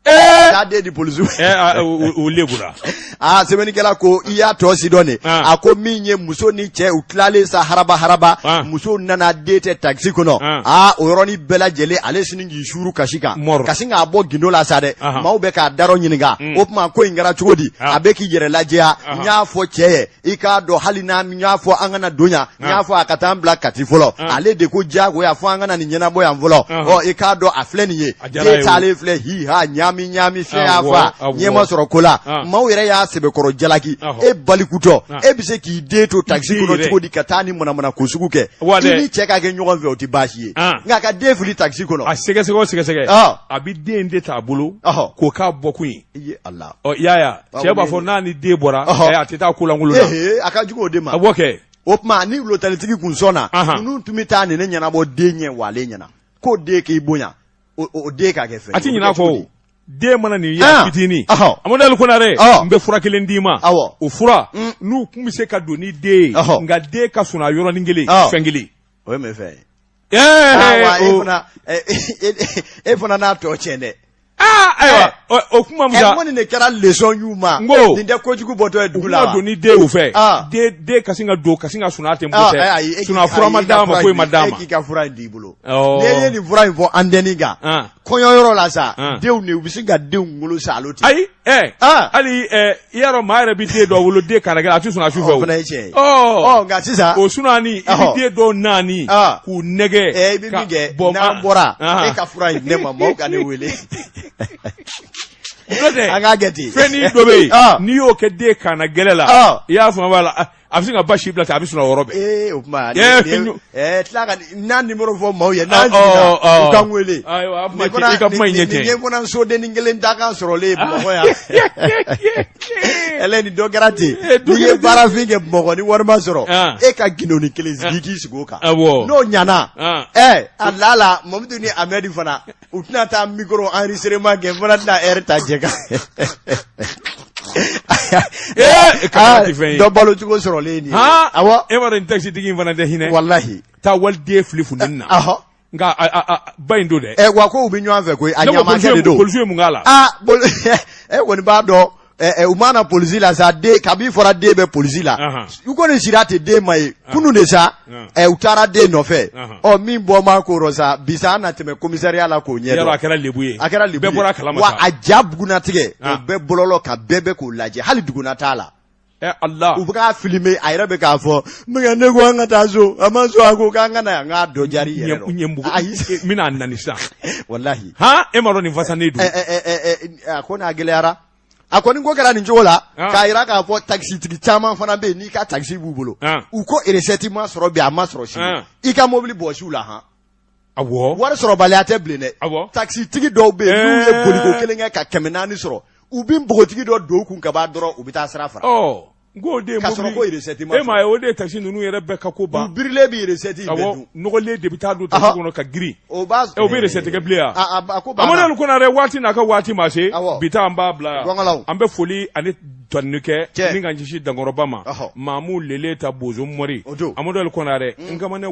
taa den di polisiw Eh, ah, u- u- u lebura aa sɛbɛnnikɛla ko i y'a tɔ si dɔn de Ah. a ko min ye muso ni cɛ u tilalen sa haraba haraba Ah. muso nana den tɛ takisi kɔnɔ Ah. aa o yɔrɔnin bɛɛ lajɛlen ale sini k'i suuru kasi kan Mɔrɔ. ka sin k'a bɔ gindo la sa dɛ Ahan. maaw bɛ k'a darɔ ɲininka o tuma ko in kɛra cogo di Ah. a bɛ k'i yɛrɛ lajɛya n y'a fɔ cɛ ye i k'a dɔn hali n'a n y'a fɔ an kana don yan n y'a fɔ a ka taa an bila Kati fɔlɔ ale de ko diyagoya fɔ an ka na nin ɲɛnabɔ yan fɔlɔ ɔ i k'a dɔn a filɛ nin ye A diyara a ye den o. taalen filɛ hiha ɲaami ɲaami fiɲɛ y'a Awɔ, fa awɔ. ɲɛ ma sɔrɔ ko la Ah. maaw yɛrɛ y'a sɛbɛkɔrɔ jalaki Awɔ. e balikutɔ Ah. e bɛ se k'i den to takisi Den kɔnɔ yɛrɛ. cogo di ka taa nin manamanako sugu kɛ Wa i dɛ. ni cɛ ka kɛ ɲɔgɔn fɛ o tɛ baasi ye Ah. nka ka den fili takisi kɔnɔ a sɛgɛsɛgɛ o sɛgɛsɛgɛ Ah. a bɛ den de t'a bolo Ɔhɔ. k'o k'a bɔkun ye Yaya cɛ b'a fɔ n'a ni den bɔra a tɛ taa ko lankolon na a ka jugu o de ma a b'o kɛ o tuma ni lotɛlitigi kun sɔnna ninnu tun bɛ taa nin ɲɛnabɔ den ɲɛ wa ale ɲɛna k'o den k'i bonya o den ka kɛ fɛn a tɛ ɲin'a kɔ den mana nin y'a fitinin Amadu Konare n bɛ fura kelen d'i ma o fura n'u tun bɛ se ka don ni den ye nka den ka sunaa yɔrɔnin kelen fɛn kelen o ye mun fɛn ye e fana n'a tɔ tiɲɛ dɛ ayiwa o kuma nin de kɛra lesɔn y'u ma ko nin tɛ kojugu bɔtɔ ye dugu la don ni den y'u fɛ den ka sin ka don ka sin ka sunaa tɛ ma d'a ma ko i ma d'a ma k'i ka fura d'i bolo n'i ye nin fura in fɔ antɛni kan kɔɲɔ yɔrɔ la sa denw de u bɛ se ka denw wolo sa alo ten ayi ɛ ah. hali ɛ i y'a dɔn maa yɛrɛ bɛ den dɔ wolo den kannagɛlɛn a tɛ sɔn a su fɛ o fana ye tiɲɛ ye ɔ nka sisan o sunani i bɛ den dɔw naani ah. k'u nɛgɛn ɛ eh, i bɛ min kɛ n'an bɔra e ka fura in di ne ma maaw ka ne wele an k'a kɛ ten fɛnnin dɔ bɛ yen n'i y'o kɛ den kannagɛlɛn la i y'a faamu a la. A bɛ se ka basi bila a bɛ sɔrɔ yɔrɔ ee o tuma n'a nimero fɔ maaw ye n'an ka wele ka sodennin kelen da kan sɔrɔlen bamakɔ yan ni dɔ kɛra ten n'i ye baarafin kɛ bamakɔ ni wari ma sɔrɔ e ka gindoni kelen sigi k'i sigi o kan n'o ɲana a la la mamadu ni amɛdi fana u tɛna taa micro enregistrement kɛ n fana tɛna heure ta jɛ kan dɔ balo cogo sɔrɔlen nin awɔ e b'a dɔn takisitigi in fana tɛ hinɛ walahi taa waliden fili funteni na nka ba in don dɛ wa ko u bɛ ɲɔgɔn fɛ koyi a ɲamakɛ de don polisiw ye mun k'a la e kɔni b'a dɔn Eh, eh, u ma na polisi la sa den kabi fɔra den bɛ polisi la u kɔni sira tɛ den ma ye kunun de sa eh, u taara den nɔfɛ ɔ min bɔ ma ko rɔ sa bi sa an na tɛmɛ komisariya la k'o ɲɛdɔn a kɛra lebu ye bɛɛ bɔra a kalama wa a ja bugunatigɛ o bɛɛ bɔlɔlɔ ka bɛɛ bɛ k'o lajɛ hali duguna t'a la Eh, Allah. u bɛ k'a filime a yɛrɛ bɛ k'a fɔ ne ko an ka taa so a ma sɔn a ko k'an ka na yan k'a dɔ jari yɛrɛ dɔn ɲɛbugu n bɛna nani sisan walahi han e ma dɔn nin fasanen don a ko n'a gɛlɛyara a kɔni ko kɛra nin cogo la ah. k'a yira k'a fɔ takisitigi caman fana bɛ yen n'i ka takisi b'u bolo ah. u ko eresɛti ma sɔrɔ bi a ma sɔrɔ sini ah. i ka mobili bɔsi u la han wari sɔrɔbaliya tɛ bilen dɛ takisitigi dɔw bɛ yen n'u ye eh. boliko kelen kɛ ka kɛmɛ naani sɔrɔ u bɛ npogotigi dɔ don u kun ka ban dɔrɔn u bɛ taa sira fara oh. N ko o de ye mobili, k'a sɔrɔ ko recette ma sɔrɔ, e m'a ye o de ye taxi ninnu yɛrɛ bɛɛ ka ko ban, u birilen bɛ recette in bɛɛ dun, awɔ, nɔgɔlen de bɛ taa don taxi kɔnɔ ka girin, o b'a, o bɛ recette kɛ bilen wa, a a ko banna, Amadu Kɔnarɛ waati n'a ka waati ma se, awɔ, bi ta an b'a bila yan, gɔngɔlaw, an bɛ foli ani tanuni kɛ, min ka ɲɛsin Dankɔrɔba ma, ɔhɔ, Mamu Lele ta Bozo Mɔri, o don, Amadu Kɔnarɛ, n kamana